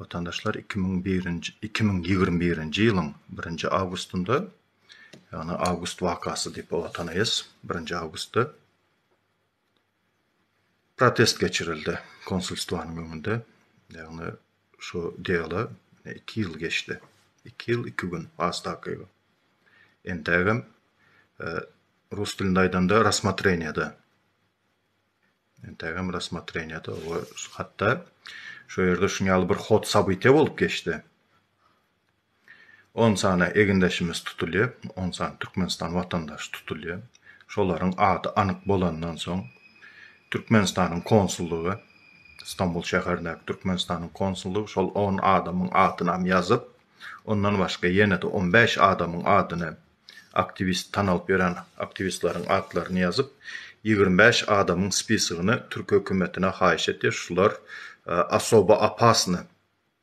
Watandaşlar iki müň birinji iki müň ýigrimi birinji ýylyň birinji awgustynda, ýagny awgust wakasy diýip oňa tanaýas, birinji awgustda protest geçirildi konsulstwanyň öňünde, ýagny şu diýala iki ýyl geçdi, iki ýyl iki gün has takygy. Entägem rus dilinde aýdanda rassmotreniýada. Entegem rassmotreniýada oba hatda şu ýerde şuň ýaly bir hod sabytyýa bolup geçdi. 10 sany egindeşimiz tutulýar, 10 sany Türkmenistan watandaşy tutulýar. Şolaryň ady anyk bolandan soň Türkmenistanyň konsullygy Stambul şäherindäki Türkmenistanyň konsullygy şol 10 adamyň adynam ýazyp, ondan başga ýene-de 15 adamyň adyny Aktiwist tan alyp ýören aktiwistleriň atlaryny ýazyp, ýigrimi bäş adamyň spisigini türki hökümetine haýyş etýär, şular osobo opasny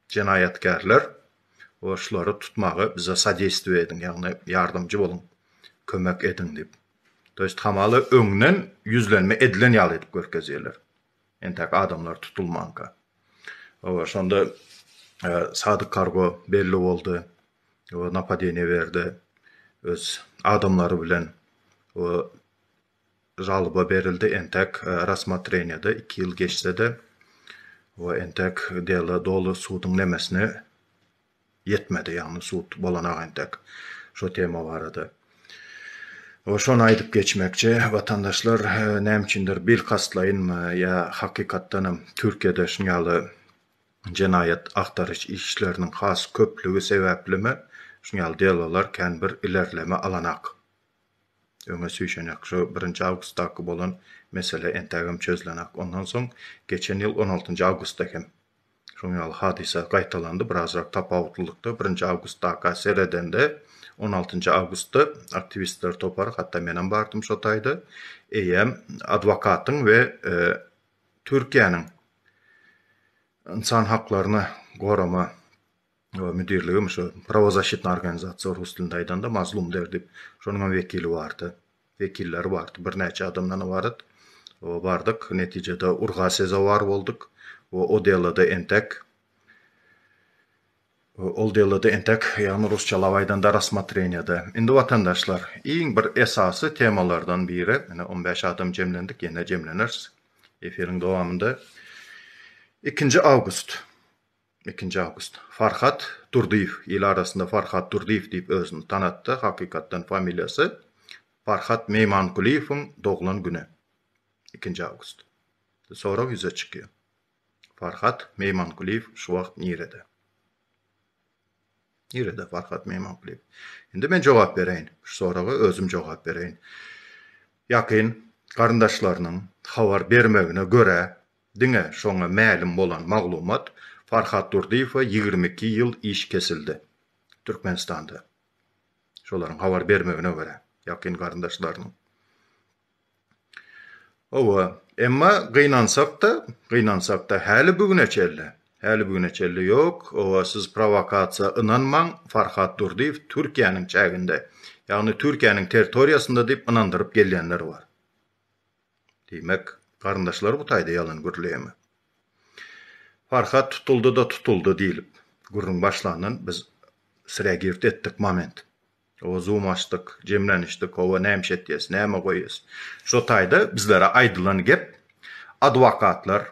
jenaýatkärler we şulary tutmaga bize sodeýstwo ediň, ýagny ýardamjy boluň, kömek ediň diýip. To ýest hamala öňden ýüzlenme edilen ýaly edip görkezýärler. Entäk adamlar tutulmanka. Oba şonda Sadyk Kargo belli boldy. Oba napadeniýe berdi. Öz adamlary bilen oba žalyba berildi. Entäk rasmatreniýede iki ýyl geçse-de oba entäk dela doly suduň nemesine ýetmedi, ýagny sud bolanok entek şo tema barada. We şony aýdyp geçmekçi, watandaşlar näme üçindir bilkastlaýynmy ýa hakykatdanam Türkiýede şuny ýaly jenaýat agtaryş işleriniň has köplügi sebäplimi şuny ýaly delolar kän bir ilerleme alanak. Öňe süýşenek, şu birinji awgustdaky bolan mesele entägem çözülenak. Ondan soň geçen ýyl on altynjy awgustda hem Şoň ýaly hadysa gaýtalandy, birazrak tapawutlylykda, birinji awgustdaka seredende, on altynjy awgustda aktiwistler topary, hatda menem bardym şo taýda, eýýäm adwokatyň we Türkiýäniň ynsan haklaryny gorama müdirligem şo prawozasşitna organizasiýa rus dilinde aýdanda mazlum derdi şonuňam wekili bardy wekilleri bardy birnäçe adamdan ybarat bardyk netijede urga sezowar bolduk we o delada entek ol delada entek ýagny rusçalap aýdanda rassmotreniýada indi watandaşlar iň bir esasy temalardan biri ine on bäş adam jemlendik ýene jemleneris efiriň dowamynda ikinji awgust Ikinji awgust. Farhat Durdyýew, il arasynda Farhat Durdyýew diýip özüni tanatdy, hakykatdan familiýasy Farhat Meýmankulyýewiň doglan güni. Ikinji awgust. Sorag ýüze çykýar. Farhat Meýmankulyýew şu wagt nirede? Nirede Farhat Meýmankulyýew? Indi men jogap bereýin. Şu soraga özüm jogap bereýin. Ýakyn garyndaşlarynyň habar bermegine görä, Diňe şoňa mälim bolan maglumat, Farhat Durdyýewe ýigrimi iki ýyl iş kesildi. Türkmenistanda. Şolaryň habar bermegine görä, ýakyn garyndaşlarynyň. Hawa, emma gynansak-da, gynansak-da, häli bu güne çenli, häli bu güne çenli ýok. Hawa, siz prowokasiýa ynanmaň, Farhat Durdyýew Türkiýäniň çäginde, ýagny Türkiýäniň territoriýasynda diýip ynandyryp gelýänler bar. Diýmek, garyndaşlary bu taýda ýalan gürleýärmi? Farhat tutuldy-da tutuldy diýlip, gürrüň başlandan biz sirä girt etdik moment. Oba zoom açdyk, jemlenişdik, hawa nämiş etýäs, näme goýýas. Şo taýda bizlere aýdylan gep adwokatlar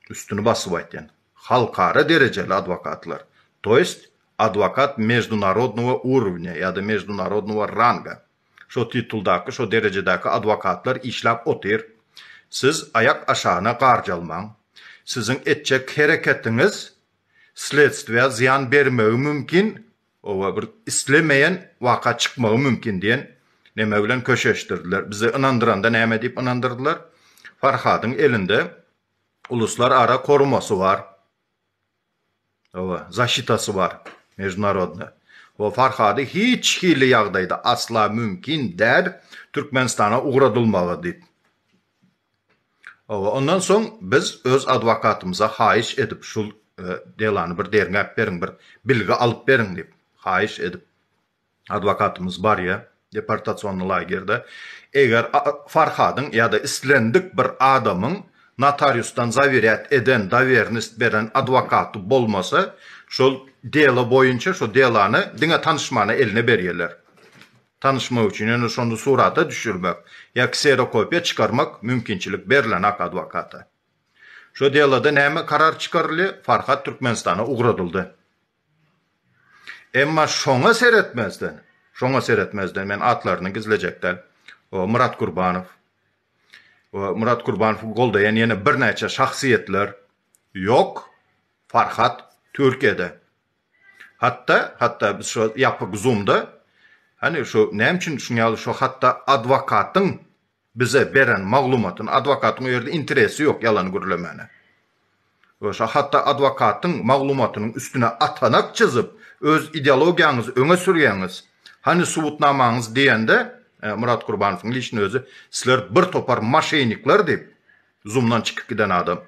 Üstüni basyp aýtýan. Halkara derejeli adwokatlar. To ýest adwokat mejdunarodnowa urowňa ýa-da mejdunarodnowa ranga. Şo tituldaky, şo derejedäki adwokatlar işläp otyr. Siz aýak aşagyna garjalmaň. Siziň etjek hereketiňiz sledstwä zyýan bermegi mümkin, Oba bir islemeýän waka çykmagy mümkin diýen neme bilen köşeşdirdiler. Bizi ynandyranda näme diýip ynandyrdylar? Farhadyň elinde uluslar ara korumasy bar. Oba, zaşitasy bar, mejnarodna. Oba Farhady hiç hili ýagdaýda asla mümkin däl Türkmenistana ugradylmagy diýip. Hawa, ondan soň biz öz adwokatymyza haýyş edip, şul delany bir derňäp beriň, bir bilgi alyp beriň diýip, haýyş edip, adwokatymyz barýar deportasion lagerde. Eger Farhadyň ýa-da islendik bir adamyň notariusdan zawirýat eden, dowernist beren adwokaty bolmasa, şol delo boýunça şol delany diňe tanyşmana eline berýärler. tanyşmak üçin ýöne şony surata düşürmek ýa kserokopiýa çykarmak mümkinçilik berlenak adwokata. Şu deloda näme karar çykaryldy, Farhat Türkmenistana ugradyldy. Emma şoňa seretmezden, şoňa seretmezden men atlaryny gizlejek däl, Myrat Kurbanow, we Myrat Kurbanowy goldaýan ýene birnäçe şahsyýetler ýok, Farhat Türkiýede. Hatda, hatda biz şo ýapyk zoomda, hany şo näme üçin şuň ýaly şo hatda adwokatyň bize beren maglumatyny, adwokatyň o ýerde interesi ýok ýalan gürlemäne. We şo hatda adwokatyň maglumatynyň üstüne atanak çyzyp, öz ideologiýaňyzy öňe sürýäňiz, hany subutnamaňyz diýende, Murat Gurbanowyň lişni özi, sizler bir topar maşenikler diýip, Zumdan çykyp giden adam.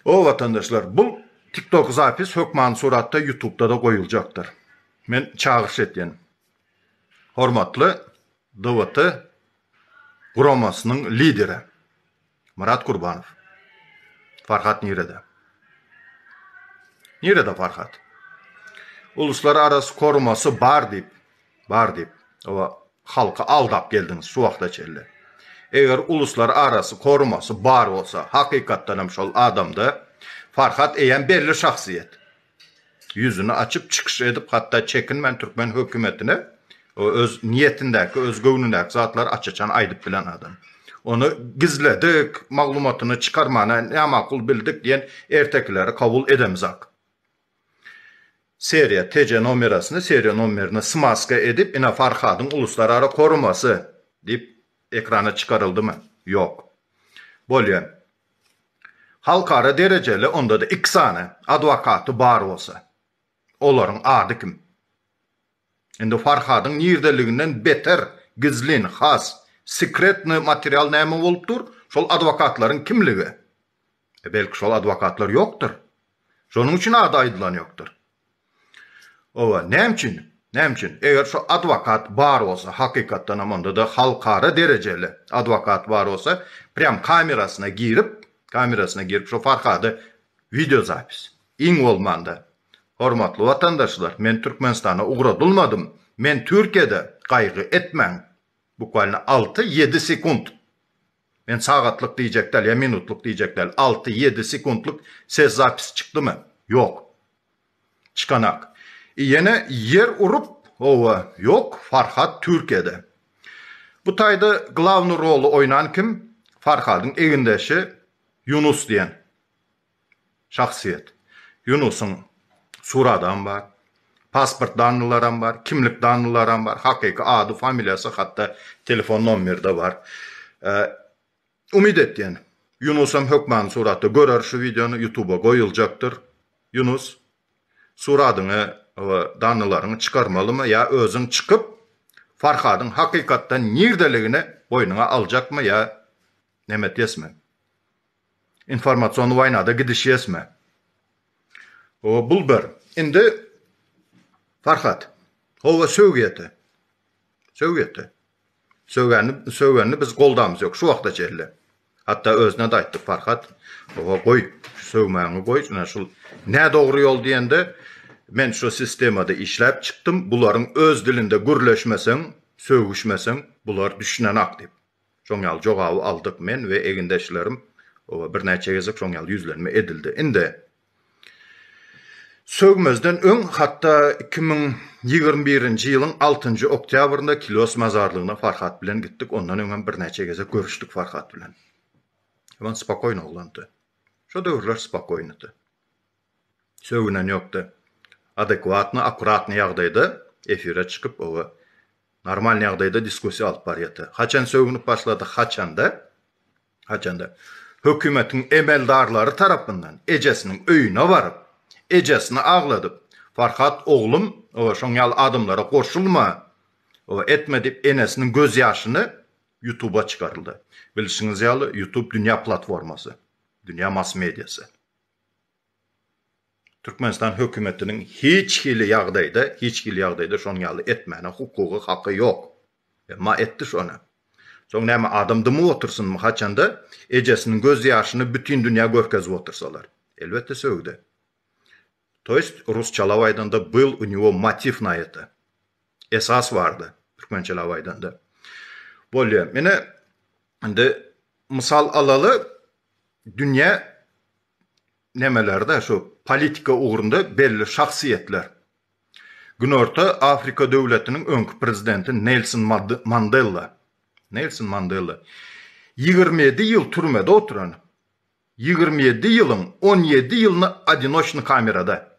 O watandaşlar bul tiktok zapis hökmany suratda ýutubda-da goýuljakdyr. Men çagyryş etýän. Hormatly DWT guramasynyň lideri Myrat Kurbanow. Farhat nirede? Nirede Farhat? Uluslararasy korumasy bar diýip Bar diýip, oba halky aldap geldiňiz şu wagta çenli. Eger uluslar arasy korumasy bar bolsa, hakykatdan hem şol adamda Farhat eýýäm belli şahsyýet. Ýüzüni açyp çykyş edip hatda çekinmän türkmen hökümetine öz niýetindäki, öz göwnündäki zatlary aç-açan aýdyp bilen adam. Ony gizledik, maglumatyny çykarmana nämakul bildik diýen ertekileri kabul edemizak. Seriýa, TC nomerasyny seriýa nomerine smaska edip, ine Farhadyň uluslarara korumasy diýip ekrana çykaryldymy? Ýok. Bolýar. Halkara derejeli, onda-da iki sany adwokaty bar bolsa. Olaryň ady kim? Indi Farhadyň nirdeliginden beter gizlin, has sekretnyý material näme bolup dur? Şol adwokatlaryň kimligi? E, belki şol adwokatlar ýokdur? Şonuň üçin ady aýdylan ýokdur. Owa, näme üçin? Näme üçin? Eger şo adwokat bar bolsa, hakykatdanam onda-da halkara derejeli adwokat bar bolsa, prýam kamerasyna girip, kamerasyna girip şo Farhady wideozapis, iň bolmanda, Hormatly watandaşlar men Türkmenistana ugradylmadym men Türkiýede gaýgy etmäň bukwalyna alty ýedi sekunt men sagatlyk diýjek däl ýa minutlyk diýjek däl alty ýedi sekuntlyk ses zapisi çykdymy ýok çykanak i ýene ýer urup howa ýok Farhat Türkiýede bu taýda glawny roly oýnan kim Farhadyň egindeşi Ýunus diýen Şahsyýet. Ýunusyň suratam bar. Pasport dannylaram bar. Kimlik dannylaram bar. Hakyky ady, familiýasy hatda telefon nomerde bar. Umyt etýän. Ýunusam hökmany suratda görer şu wideony ýutuba goýuljakdyr. Ýunus suratyňy we dannylaryňy çykarmalymy ýa özüň çykyp Farhadyň hakykatdan nirdeligini boýnuňa aljakmy ýa neme diýesmi. Informasion waýnada gidiş ýesme. O bul bir. Indi Farhat. Howa sögýete. Sögýete. Sögeni sögeni biz goldamyz ýok şu wagta çenli. Hatda özüne de aýtdy Farhat. Howa goý sögmäňi goý şuna şul nä dogry ýol diýende men şu sistemada işläp çykdym bularyň öz dilinde gürleşmeseň sögüşmeseň bular düşünenak diýip. Şoň ýaly jogaby aldyk men we egindeşlerim we birnäçe gezek şoň ýaly ýüzlenme edildi. Indi Sogmezden öň hatda iki müň ýigrimi birinji ýylyň altynjy oktýabrynda Kilios mazarlygyna Farhat bilen gitdik, ondan öň hem birnäçe gezek görüşdik Farhat bilen. Wan spokoýny oglandy. Şo döwürler spokoýnydy. Sögünen ýokda. Adekwatny, akkuratny ýagdaýda efire çykyp oba normalny ýagdaýda diskussiýa alyp barýata. Haçan sögünip başlady, haçanda, haçanda hökümetiň emeldarlary tarapyndan ejesiniň öýüne baryp, ejesini agladyp, Farhat oglum, oba şoň ýaly adamlara goşulma, oba etme diýip enesiniň göz ýaşyny ýutuba çykaryldy. Bilşiňiz ýaly ýutub dünýä platformasy, dünýä mass-mediasy. Türkmenistan hökümetiniň hiç hili ýagdaýda, hiç hili ýagdaýda şonuň ýaly etmäne hukugy, haky ýok. Emma etdi şony. Soň näme adam dymyp otursynmy haçanda ejesiniň göz ýaşyny bütin dünýä görkezip otursalar. Elbetde sögde. To ýest rusçalap aýdanda byl u niwo motiv na ete. Esas bardy türkmençelap aýdanda. Bolýa. Ine indi mysal alaly dünýä nemelerde şu politika ugrunda belli şahsyýetler. Günorta Afrika döwletiniň öňki prezidenti Nelson Mandella. Nelson Mandella. 27 ýyl türmede oturan. 27 ýylyň 17 ýylyny adinoçny kamerada.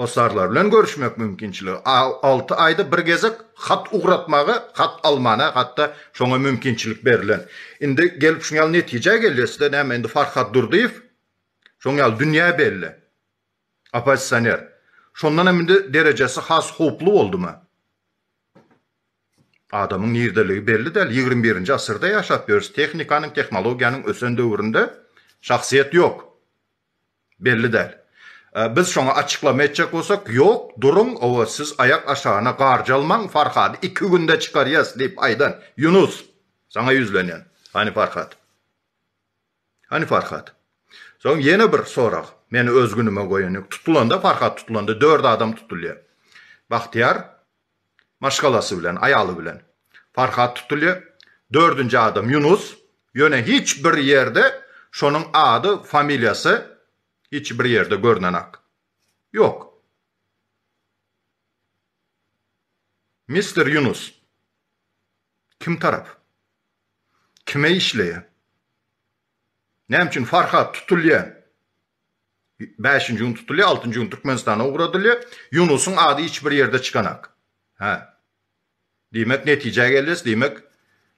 Hossarlar bilen görüşmek mümkinçiligi, alty aýda bir gezek hat ugratmaga, hat almana hatda şoňa mümkinçilik berlen. Indi gelip şu ýaly netijä gelýäs-de, näme indi Farhad Durdyýew şoň ýaly dünýä belli oppozisioner. Şondan hem indi derejesi has howply boldumy? Adamyň nirdeligi belli däl. Ýigrimi birinji asyrda ýaşap ýörüs. Tehnikanyň, tehnologiýanyň ösen döwründe şahsyýet ýok. Belli däl. Biz şoňa açyklama etjek bolsak, Ýok, duruň, owa, siz aýak aşagyna garjalmaň, Farhady iki günde çykarýas diýip aýdan, Ýunus, saňa ýüzlenýän. Hany Farhat? Hany Farhat? Soň ýene bir sorag. Meni öz günüme goýan ýok. Tutulanda, Farhat tutulanda dört adam tutulýar. Bahtiýar, Maşgalasy bilen, aýaly bilen. Farhat tutulýar. Dördünji adam Ýunus. Ýöne hiç bir ýerde şonuň ady, familiýasy hiç bir ýerde görnenak. Ýok. Mister Ýunus. Kim tarap? Kime işleýär? Näme üçin Farhat tutulýar? Bäşinji gün tutulýar, altynjy gün Türkmenistana ugradylýar. Ýunusyň ady hiç bir ýerde çykanak. Hä. Diýmek, netijä gelýäs, diýmek,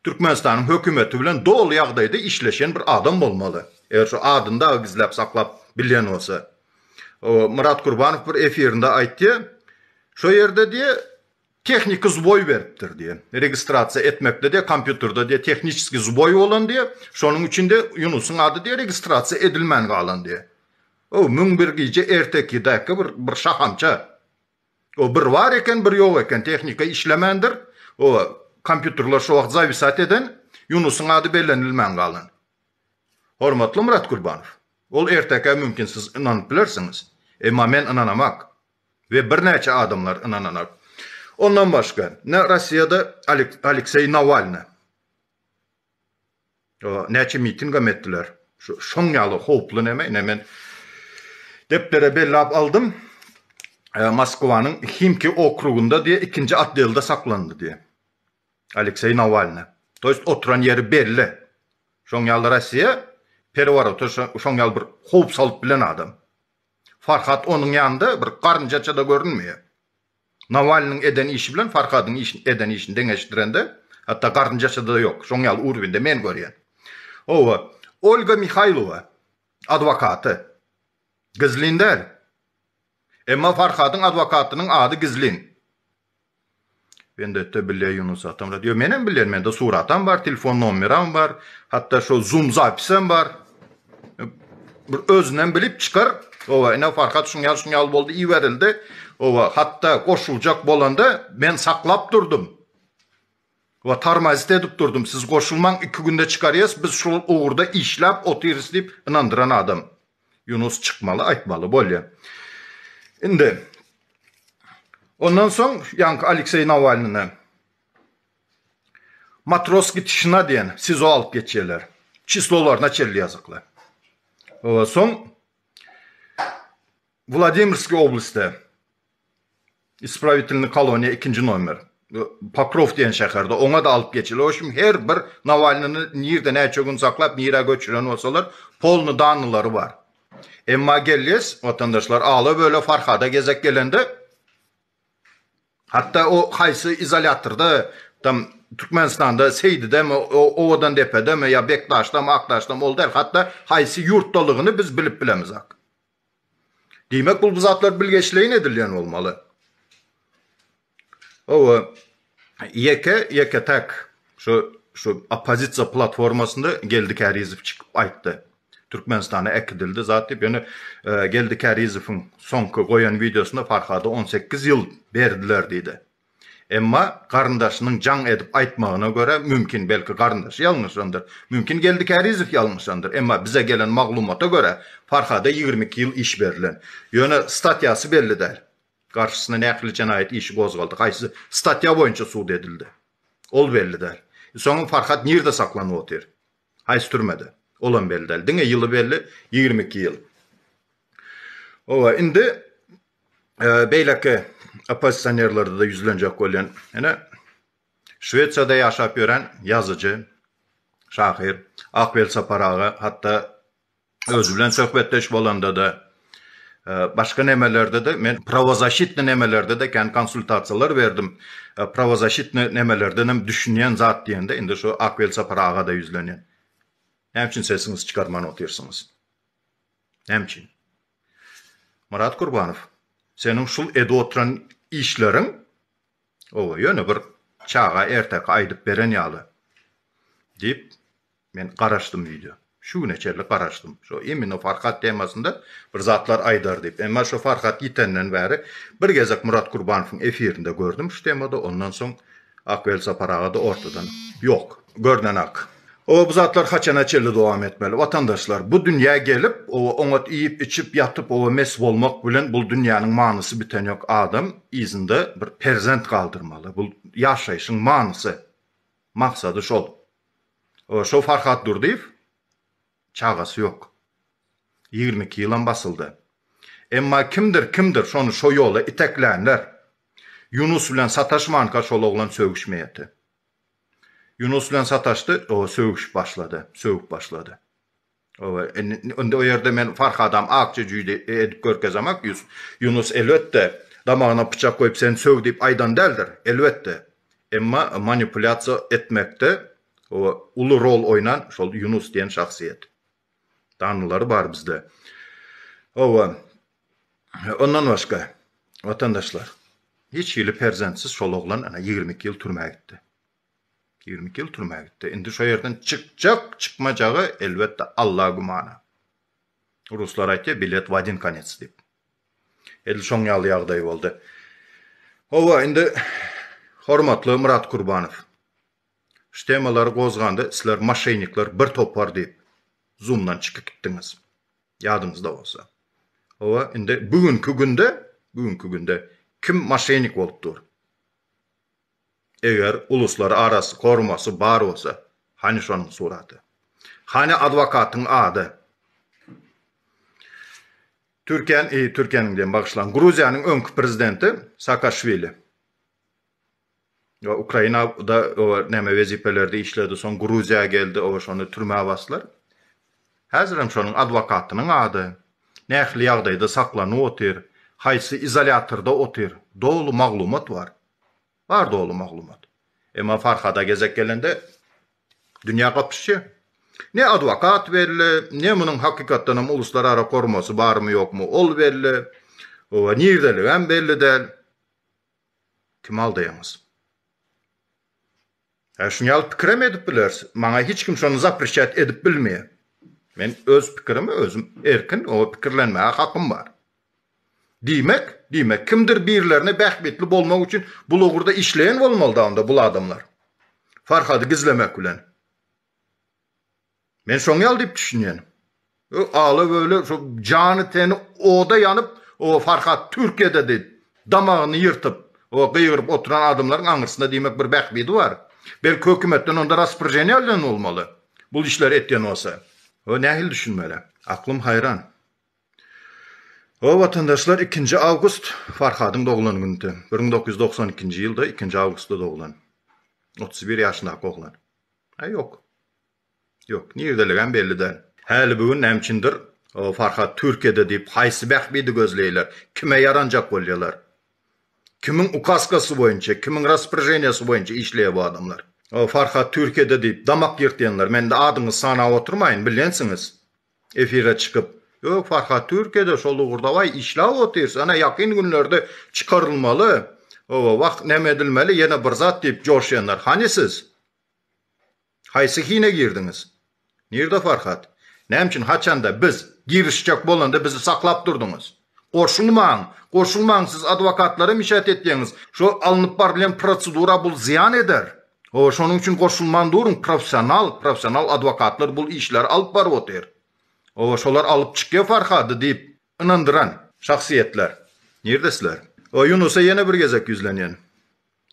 Türkmenistanyň hökümeti bilen doly ýagdaýda işleşen bir adam bolmaly. Eger şu adyny dagy gizläp saklap bilýän bolsa. Myrat Kurbanow bir efirinde aýtýar, Şo ýerde diýýär, Tehniki zboý beripdir diýen. Registrasiýa etmekde diýe kompýuterde diýe tehniçeskiý zboý bolan diýe. Şonuň üçin diýe Ýunusyň ady diýe registrasiýa edilmän galan diýe. O müň bir gije ertekidäki bir bir şahamça. O bir bar eken bir ýok eken tehnika işlemändir. O kompýuterler şo wagt zawisat eden Ýunusyň ady bellenilmän galan. Hormatly Myrat Kurbanow. Ol ertekä mümkin siz ynanyp bilersiňiz. Emma men ynanamak. we birnäçe adamlar ynananak. Ondan başga, ne Rossiýada Alekseý Nawalny, näçe mitingem etdiler, şoň ýaly howply näme, ine men depdere bellap aldym, Moskwanyň Himki okrugynda diýe ikinji otdelde saklandy diýe, Alekseý Nawalny. To ýest oturan ýeri belli. Şoň ýaly Rossiýa pereworota şoň ýaly bir howp salyp bilen adam. Farhad onuň ýanynda bir garynjaça-da görünmeýär. Nawalnyň eden işi bilen Farhadyň eden işini deňeşdirende, hatda garynjaça-da ýok. Şoň ýaly urwinde men görýän. Hawa, Olga Mihaýlowa adwokaty. Gizlin däl. Emma Farhadyň adwokatynyň ady gizlin. Bendetde bilýä Ýunus atam rat. Ýo menem bilýän mende suratam bar telefon nomeram bar hatda şol zoom zapisem bar. Bir özünden bilip çykar. Owa ine Farhat şuň ýaly şuň ýaly boldy iberildi. Owa hatda goşuljak bolanda men saklap durdum. We tormozit edip durdum, siz goşulmaň iki günde çykarýas biz şul ugurda işläp otyrys diýip ynandyran adam Ýunus çykmaly aýtmaly bolýa. Indi Ondan soň ýaňky Alekseý Nawalnyny Matroski tişina diýen sizo alyp geçýärler. Çislolaryna çelli ýazykly. Soň Wladimrskiý oblastda Isprawitelny koloniýa ikinji nomer. Pokrow diýen şäherde. Oňa-da alyp geçeli. O şum her bir Nawalnyny nirde näçe gün saklap, nirä göçüren bolsalar, polny danylary bar. Emma gelýäs, watandaşlar, ala-böle Farhada gezek gelende, hatda o haýsy izolýatorda, tam Türkmenistanda Seýdidemi, Owadandepedemi ýa Bekdaşdamy, Akdaşdamy, ol däl, hatda haýsy ýurtdalygyny biz bilip bilemizak. Diýmek bul bu zatlar bilgeşleýin edilýän bolmaly. Hawa, ýeke, ýeke täk şu şu oppozisiýa platformasynda Geldi Kärizow çykyp aýtdy. Türkmenistana äkidildi zat diýip, ýöne Geldi Kärizowyň soňky goýan wideosynda Farhada on sekiz ýyl berdiler diýdi. Emma garyndaşynyň jaň edip aýtmagyna görä, mümkin, belki garyndaşy ýalňyşandyr, mümkin Geldi Kärizow ýalňyşandyr, emma bize gelen maglumata görä, Farhada ýigrimi iki ýyl iş berlen. Ýöne statýasy belli däl. Garşysyna nähili jenaýat işi gozgaldy, haýsy statýa boýunça sud edildi? Ol belli däl. E soňam Farhat nirde saklanyp otyr? Haýsy türmede? Olam belli däl. Diňe ýyly belli, ýigrimi iki ýyl. Hawa, indi beýleki oppozisionerlerde-de ýüzlenjek bolýan, ýöne Şwesiýada ýaşap ýören ýazyjy, şahyr Akwel Sapar aga hatda özi bilen söhbetdeş bolanda-da, e, başga nemelerde-de men prawozaşitni nemelerde-de kän konsultasiýalar berdim. E, prawozaşitni nemelerden hem düşünýän zat diýende, indi şu Akwel Sapar aga-da ýüzlenýän. Näme üçin sesiňizi çykarman otyrsyňyz? Näme üçin? Myrat Kurbanow, seniň şul edip oturan işleriň, oba, ýöne bir çaga erteki aýdyp beren ýaly, diýip, men garaşdym öýde. Şu güne çenli garaşdym. Şo imminno Farhad temasynda bir zatlar aýdar diýip. Emma şo Farhad ýitenden bäri bir gezek Myrat Kurbanowyň efirinde gördüm şu temada, ondan soň ak Welsapar aga-da ortadan ýok. görnenak. Oba bu zatlar haçana çenli dowam etmeli watandaşlar bu dünýä gelip oba oňat iýip içip ýatyp oba mes bolmak bilen bul dünýäniň manysy biten ýok adam yzynda bir perzent galdyrmaly bul ýaşaýşyň manysy maksady şol oba şo Farhat Durdyýew çagasy ýok ýigrimi iki ýylam basyldy emma kimdir kimdir şony şo ýola iteklänler Ýunus bilen sataşmanka şol oglan sögüşmeýeti. Ýunus bilen sataşdy, oba sögüşip başlady, sögüp başlady. Oba, indi o ýerde men Farhadam akja jüýde edip görkezemak, Ýunus, elbetde, damagyna pyçak goýup sen sög diýip aýdan däldir, elbetde, emma manipulýasiýa etmekde, oba, uly rol oýnan şol Ýunus diýen şahsyýet. Danylary bar bizde. Hawa. Ondan başga, watandaşlar, hiç hili perzentsiz şol oglan ana ýigrimi iki ýyl türmä gitdi. Ýigrimi iki ýyl türmä gitdi. Indi şo ýerden çykjak, çykmajagy, elbetde, Alla gümana. Ruslar aýtýar, bilet w adin konets diýip. Edil şoň ýaly ýagdaý boldy. Hawa, indi hormatly Myrat Kurbanow, Şu temalary gozganda sizler maşenikler bir topar diýip zumdan çykyp gitdiňiz. Ýadyňyzda bolsa. Hawa indi bu günki günde, bu günki günde kim maşenik bolup dur? Eger uluslar arasy korumasy bar bolsa, hany şonuň suraty? Hany adwokatyň ady? Türkiýäniň, eý Türkiýäniň diýen bagyşlaň, Gruziýanyň öňki prezidenti Saakaşwili. Ýa Ukraina da oba näme wezipelerde işledi soň Gruziýa geldi oba şony türmä baslar. Häzirem şonuň adwokatynyň ady nähili ýagdaýda saklanyp otyr, haýsy izolýatorda otyr doly maglumat bar. Bar doly maglumat. Emma Farhada gezek gelende dünýä gapyşýa. Ne adwokat belli, ne munuň hakykatdanam uluslarara kormasy barmy ýokmy ol belli. Oba nirdeligem belli däl. Kimi aldaýaňyz? Hä, şuny ýaly pikirem edip bileris. Maňa hiç kim şony zaprişýat edip bilmeýär. Men öz pikirimi özüm erkin o pikirlenmäge hakym bar. Diýmek, diýmek, kimdir birilerine bähbitli bolmak üçin bul ugurda işleýän bolmalyda onda bul adamlar. Farhady gizlemek bilen. Men şoň ýaly diýip düşünýän. Öý ala böle şo jany teni oda ýanyp o Farhat Türkiýede diýip damagyny ýyrtyp o gygyryp oturan adamlaryň aňyrsynda diýmek bir bähbidi bar. Belki hökümetden onda raspryženiýa alýan bolmaly bul işleri etýän bolsa. Ho nähili düşünmeli. Aklym haýran. Ho watandaşlar ikinji awgust Farhadyň doglan günüdi. Bir müň dokuz ýüz dogsan ikinji ýylda ikinji awgustda doglan. Otuz bir ýaşyndaky oglan. Aý ýok. Ýok, nirdeligem belli däl. Häli bu gün nämçindir Farhat Türkiýede diýip haýsy bähbidi gözleýler, kime ýaranjak bolýalar? Kimiň ukaskasy boýunça, kimiň rasporeženiýasy boýunça işleýär bu adamlar? Farhat Türkiýede diýip damak ýyrtýanlar, men indi adyňyzy sanap oturmaýyn, bilgensiňiz. Efire çykyp, Ýok, Farhat Türkiýede şol ugurdabaý işläp otyrys, ene ýakyn günlerde çykarylmaly, oba wah, näme edilmeli, ýene bir zat diýip joşýanlar, hany siz? Haýsy hine girdiňiz? Nirde Farhat? Näme üçin haçanda biz girişjek bolanda bizi saklap durdyňyz? Goşulmaň! Goşulmaň! Siz adwokatlara mişähet etýäňiz. Şo alnyp barylýan prosedura bul zyýan eder. Ho, şonuň üçin goşulman duruň, professional, professional adwokatlar bul işleri alyp baryp otyr. Ho, şolar alyp çykýa Farhady diýip ynandyran. Şahsyýetler. Nirde sizler? Ho, Ýunusa ýene bir gezek ýüzlenýän.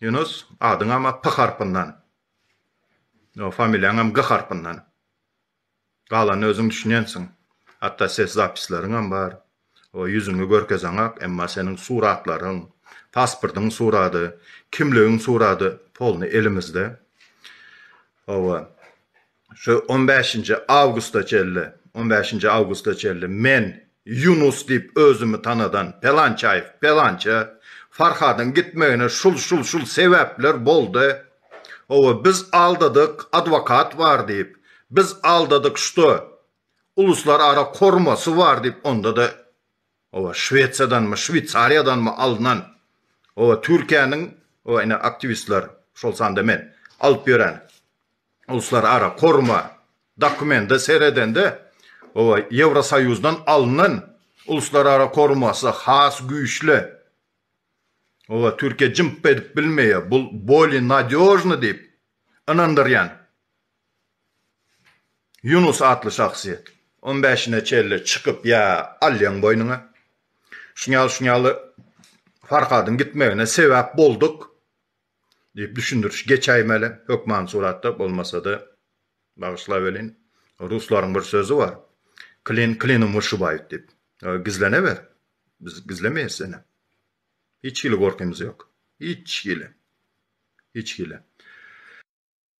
Ýunus, adyň ama P harpyndan. Ýa familiýaňam G harpyndan. Galanyny özüň düşünýänsiň. Hatda ses zapisleriňem bar. O ýüzüňi görkezeňak, emma seniň suratlaryň, pasportyň surady, kimligiň surady polny elimizde. Hawa. şu on bäşinji awgusta çenli, on bäşinji awgusta çenli men Ýunus diýip özümi tanadan Pelançaýew, Pelança, Farhadyň gitmegine şul, şul, şul sebäpler boldy, hawa, biz aldadyk, adwokat bar diýip, biz aldadyk, şto, uluslarara kormasy bar diýip, onda-da Oba Şwesiýadanmy, Şweýsariýadanmy alnan, oba Türkiýäniň, oba ine aktiwistler, şol sanda men, alyp ýören uluslar ara koruma dokumente seredende, oba Ýewrosoýuzdan alnan uluslar ara korumasy has güýçli. Oba Türkiýe jymp edip bilmeýär, bul boli nadýožny diýip ynandyrýan. Ýunus atly şahsyýet. On bäşine çenli çykyp ýa alýaň boýnuňa. Şunýaly şunýaly Farhadyň gitmegine sebäp bolduk diýip düşündiriş geçäýmeli hökman suratda bolmasada bagyşlap welin ruslaryň bir sözi bar Klin klinom wyshybaýut diýip gizleneber biz gizlemeýäs seni hiç hili gorkymyz ýok hiç hili hiç hili.